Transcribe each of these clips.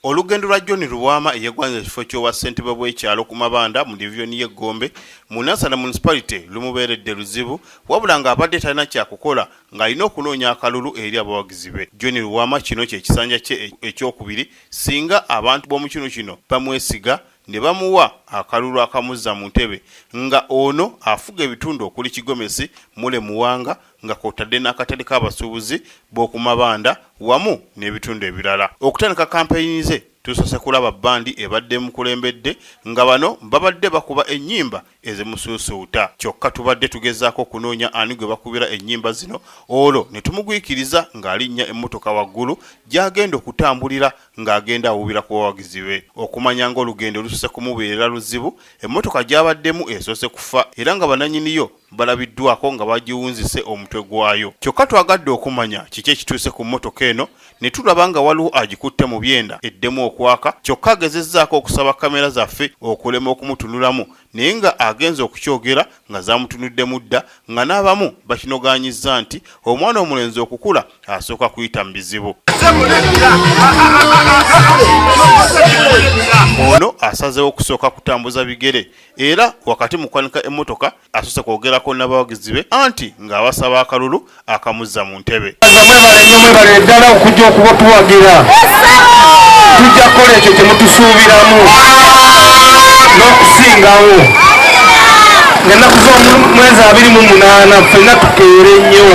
Olugendo lwa John Lubwama eyegwanyiza ekifo ky'obwa ssentebe bw'ekyalo ku mabanda mu divizoni y'e Gombe mu Nansana Municipality lumubeeredde luzibu wabula ng'abadde talina kyakukola ng'alina okunoonya akalulu eri abawagizi be. John Lubwama kino kye kisanja kye ekyokubiri singa abantu b'omu kinu kino bamwesiga ne bamuwa akalulu akamuzza mu ntebe nga ono afuga ebitundu okuli Kigomesi, Mule Muwanga, nga kwotadde n'akatale k'abasuubuzi b'oku mabanda wamu n'ebitundu ebirala. Okutandika kampeyini ze tusoose kulaba bbandi ebadde emukulembedde nga bano babadde bakuba ennyimba ezimusuusuuta kyokka tubadde tugezaako okunoonya ani gwe bakubira ennyimba zino olwo ne tumugwikiriza ng'alinnya emmotoka waggulu gy'agenda okutambulira ng'agenda awuubira ku bawagizi be. Okumanya ng'olugendo lusoose kumubeerera luzibu, emmotoka gy'abaddemu esoose kufa era nga bannannyiniyo balabiddwako nga bagiwunzise omutwe gwayo kyokka twagadde okumanya kiki ekituuse ku mmotoka eno ne tulaba nga waliwo agikutte mu byenda eddemu okwaka kyokka agezezzaako okusaba kamera zaffe okulema okumutunulamu naye nga agenze okukyogera nga zamutunuddemu dda nga n'abamu bakinogaanyizza nti omwana omulenzi okukula asooka kuyita mu bizibu ono asazewo okusooka kutambuza bigere era wakati mu kwanika emmotoka asose kwogerako n'abawagizi be anti ng'abasaba akalulu akamuzza mu ntebe mwebale ddala okujja okuba tuwagira tujja kukola ekyo kye mutusuubiramu n'okusingawo ng'ennaku z'omwezi abiri mu munaana ffenna tukeere nnyo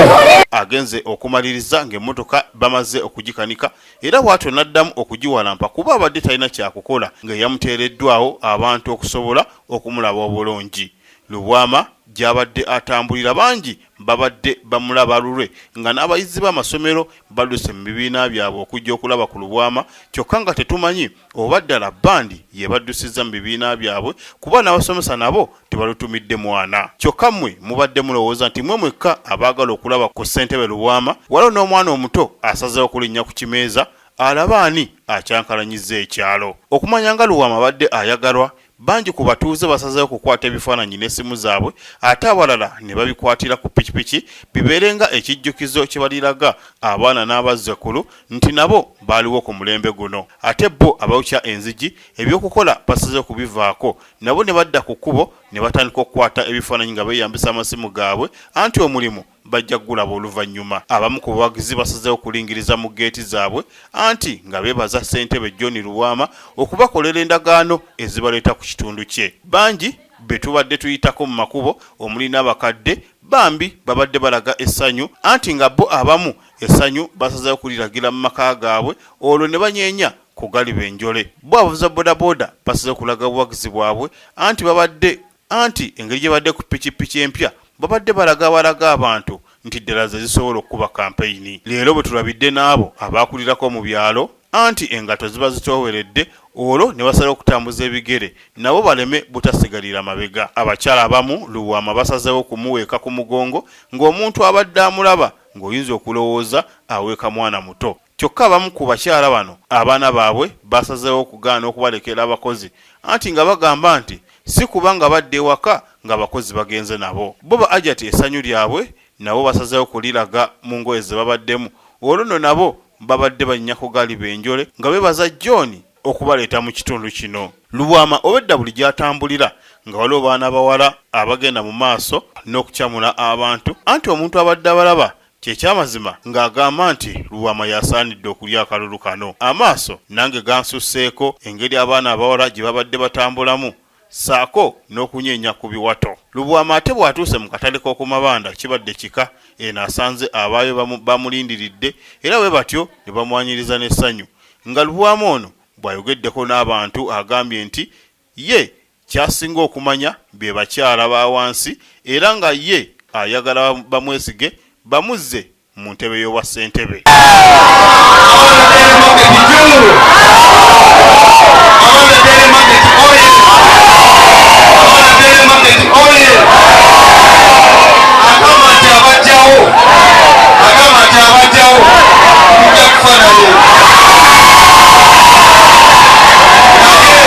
agenze okumaliriza ng'emmotoka bamaze okugikanika era bwatyo n'addamu okugiwalampa kuba abadde talina kyakukola ng'eyamuteereddwawo abantu okusobola okumulaba obulungi. Lubwama gy'abadde atambulira bangi babadde bamulaba lulwe nga n'abayizi b'amasomero badduse mu bibiina byabwe okujja okulaba ku Lubwama kyokka nga tetumanyi oba ddala bbandi y'ebaddusizza mu bibiina byabwe kuba n'abasomesa nabo tebalutumidde mwana kyokka mmwe mubadde mulowooza nti mwe mwekka abaagala okulaba ku ssentebe lubwama waliwo n'omwana omuto asazeewo okulinnya ku kimeeza alaba ani akyankalanyizza ekyalo okumanya nga luwama abadde ayagalwa bangi ku batuuze basazeewo okukwata ebifaananyi n'essimu zaabwe ate abalala ne babikwatira ku pikipiki bibeere nga ekijjukizo kye baliraga abaana n'abazzekulu nti nabo baaliwo ku mulembe guno ate bo abawukya enzigi eby'okukola basazeewo kubivaako nabo ne badda ku kkubo ne batandika okukwata ebifaananyi nga beeyambisa amasimu gaabwe anti omulimu bajja kugulaba oluvannyuma abamu ku bawagizi basazeewo kulingiriza mu geeti zaabwe anti nga beebaza ssentebe john lubwama okubakolera endagaano ezibaleeta ku kitundu kye bangi be tubadde tuyitako mu makubo omuli n'abakadde bambi babadde balaga essanyu anti nga bo abamu essanyu basazeewo kuliragira mu maka gaabwe olwo ne banyeenya ku galiba enjole. Bbo abavuzi ba bodaboda basaze kulaga buwagizi bwabwe anti babadde anti engeri gyebadde ku pikipiki empya babadde balaga balaga abantu nti ddala zezisobola okukuba kampeyini. Leero bwetulabidde naabo abaakulirako mu byalo anti engatto ziba zitooweredde olwo nebasalawo okutambuza ebigere nabo baleme butasigalira mabega. Abakyala abamu Lubwama basazeewo kumuweeka ku mugongo ng'omuntu abadde amulaba ng'oyinza okulowooza aweeka mwana muto. Kyokka abamu ku bakyala bano abaana baabwe baasazeewo okugaana okubalekera abakozi anti nga bagamba nti si kuba nga badda ewaka ng'abakozi bagenze nabo. Bo ba Ajati essanyu lyabwe nabo basazeewo kuliraga mu ngoye ze babaddemu olwo nno nabo babadde bannyako galiba enjole nga beebaza John okubaleeta mu kitundu kino. Lubwama obwedda buli gy'atambulira nga waliwo baana bawala abagenda mu maaso n'okucamula abantu anti omuntu abadde abalaba Ky'ekyamazima ng'agamba nti Lubwama y'asaanidde okulya akalulu kano. Amaaso nange gansusseeko engeri abaana abawala gye babadde batambulamu ssaako n'okunyeenya ku biwato. Lubwama ate bw'atuuse mu katale k'oku mabanda kibadde kika, eno asanze abaayo bamulindiridde era bwe batyo ne bamwaniriza n'essanyu nga Lubwama ono bw'ayogeddeko n'abantu agambye nti Ye ky'asinga okumanya be bakyala ba wansi era nga ye ayagala bamwesige bamuzze mu ntebe y'obwa ssentebe.